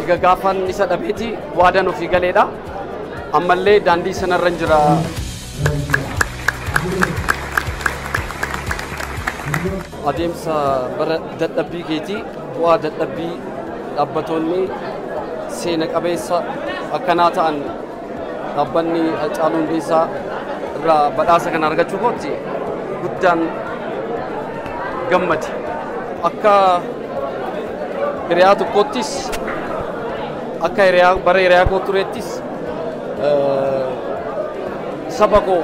Egaa gaafan isa dhabeeti waadaan ofii galeedha. Ammallee daandii sanarra jira. Adeemsa bara dadhabbii keetii bu'aa dadhabbii dhaabbatoonni seena qabeessa akkanaa ta'an Dhaabbanni Hacaaluu Hundeessaa irraa badhaasa kana argachuu kootti guddaan gammade. Akka hiriyaa tokkoottis akka hiriyaa bara hiriyaa koo tureettis eh, saba koo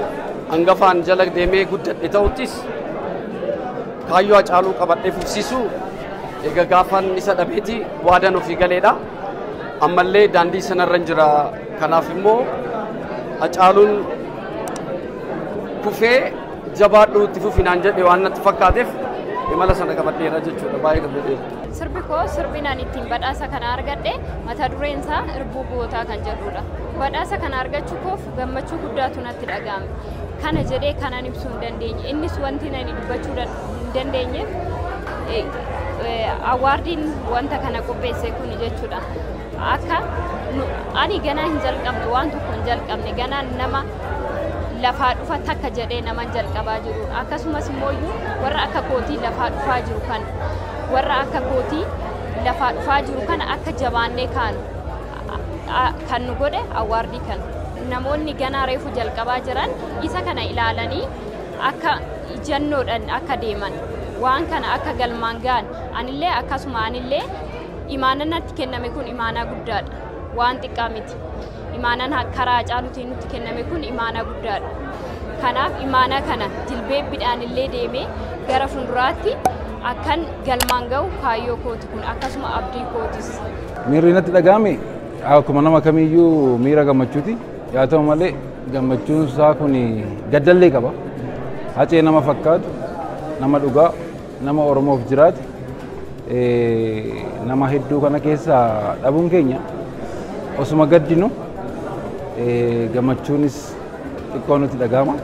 hangafaan jala deemee guddadhe ta'uttis kaayyoo Hacaaluu qabadhee fufsiisuu egaa gaafan isa dhabeeti waadaan ofii galeedha. Ammallee daandii sanarran jira. Kanaaf immoo Hacaaluun kufee jabaadhuu itti fufi naan jedhe waan natti fakkaateef imala sana qabadheera jechuudha. Baay'ee gammadeera. Sirbi koo sirbi naan ittiin badhaasa kana argadhe mata dureen isaa irbuu gootaa kan jedhudha. Badhaasa kana argachuu koof gammachuu guddaatu natti dhaga'ame. Kana jedhee kanan ibsuu hin dandeenye. Innis wanti nani dubbachuu danda'u. hin dandeenyeef awwaardiin wanta kana qopheesse kun jechuudha. Akka ani ganaa hin jalqabne waan tokko hin jalqabne ganaa nama lafaa dhufa takka jedhee nama jalqabaa jiru akkasumas immoo warra akka kootii lafaa dhufaa jiru kan warra akka kootii lafaa dhufaa jiru kana akka jabaannee kaanu kan nu godhe awwaardii kana. Namoonni ganaa reefu jalqabaa jiran isa kana ilaalanii akka ijannoodhan akka deeman waan kana akka galmaan ga'an anillee akkasuma anillee imaanaan natti kenname kun imaanaa guddaadha waan xiqqaa miti imaanaan ha- karaa Hacaaluutiin nutti kenname kun imaanaa guddaadha kanaaf imaanaa kana jilbeebbiidhaan illee deemee gara fuulduraatti akkan galmaan ga'u kaayyoo kooti kun akkasuma abdii kootis. Miirri natti dhaga'ame akkuma nama kamiiyyuu miira gammachuuti. Yaa ta'u malee gammachuun isaa kun gaddallee qaba. Hacee nama fakkaatu, nama dhugaa, nama Oromoof jiraate, nama hedduu kana keessaa dhabuun keenya osuma gaddinu gammachuunis xiqqoo nutti dhaga'ama.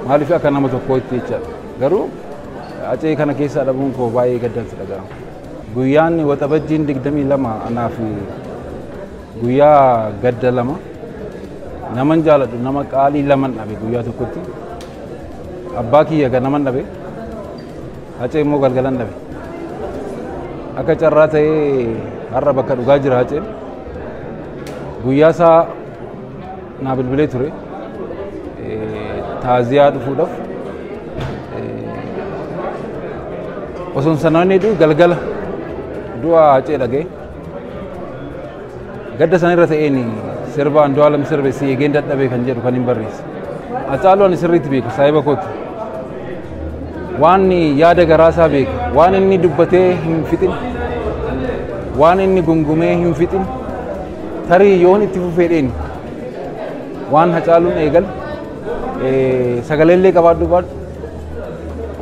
Maaliif akka nama tokkootti jechaadha. Garuu Hacee kana keessaa dhabuun koo baay'ee gaddansi dhaga'ama. Guyyaan waxabajjiin 22 anaa fi Guyyaa gadda lama naman jaaladhu nama qaalii laman dhabe guyyaa tokkotti abbaa kiyya ganaman dhabe hacee immoo galgalan dhabe akka carraa ta'ee har'a bakka dhugaa jira haceen guyyaa isaa naa bilbilee ture Eh, taaziyaa dhufuudhaaf osoo hin sanaan galgala du'a hacee dhagee Gadda sana irra ta'een sirba Andu'aalam sirbe si eegeen dadhabee kan jedhu kan hin barreesse. Haacaaluu ani sirriitti beeku saahiba kooti. Waan yaada garaasaa beeku, waan inni dubbatee hin fixin, waan inni gungumee hin fixin, tarii yoon itti fufeedheen waan Haacaaluun eegal sagalee illee qabaadhu baadhu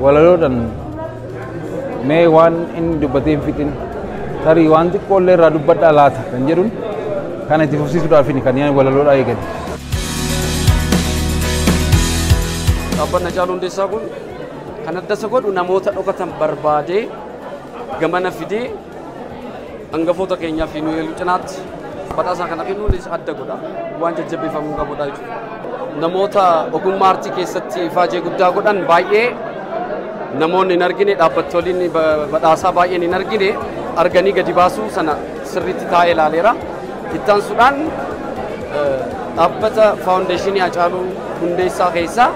Walaloodhan mee waan inni dubbatee hin fixin tarii waan xiqqoollee irraa dubbadhaa laata kan jedhun kana itti fufsiisuudhaafin kan yaani walaloodhaa eegale. Dhaabbanni Hacaaluu Hundeessaa kun kan adda isa godhu namoota dhokatan barbaadee gamana fidee Hangafoota keenyaa fi nuyi cinaatti badhaasaa kana kennuunis adda godha. Waan jajjabeeffamuu qabudha jechuudha. Namoota ogummaa artii keessatti ifaajee guddaa godhan baay'ee namoonni hin argine dhaabbattooliin badhaasaa baay'een hin argine arganii gadi baasuu sana sirriitti taa'ee ilaaleera. Ittaansuudhaan dhaabbata faawundeeshinii Hacaaluu Hundeessaa keessaa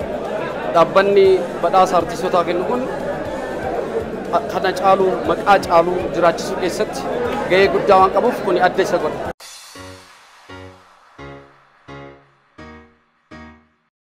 dhaabbanni badhaasa artiistootaa kennu kun kana caalu maqaa caalu jiraachisuu keessatti gahee guddaa waan qabuuf kuni adda isa godha.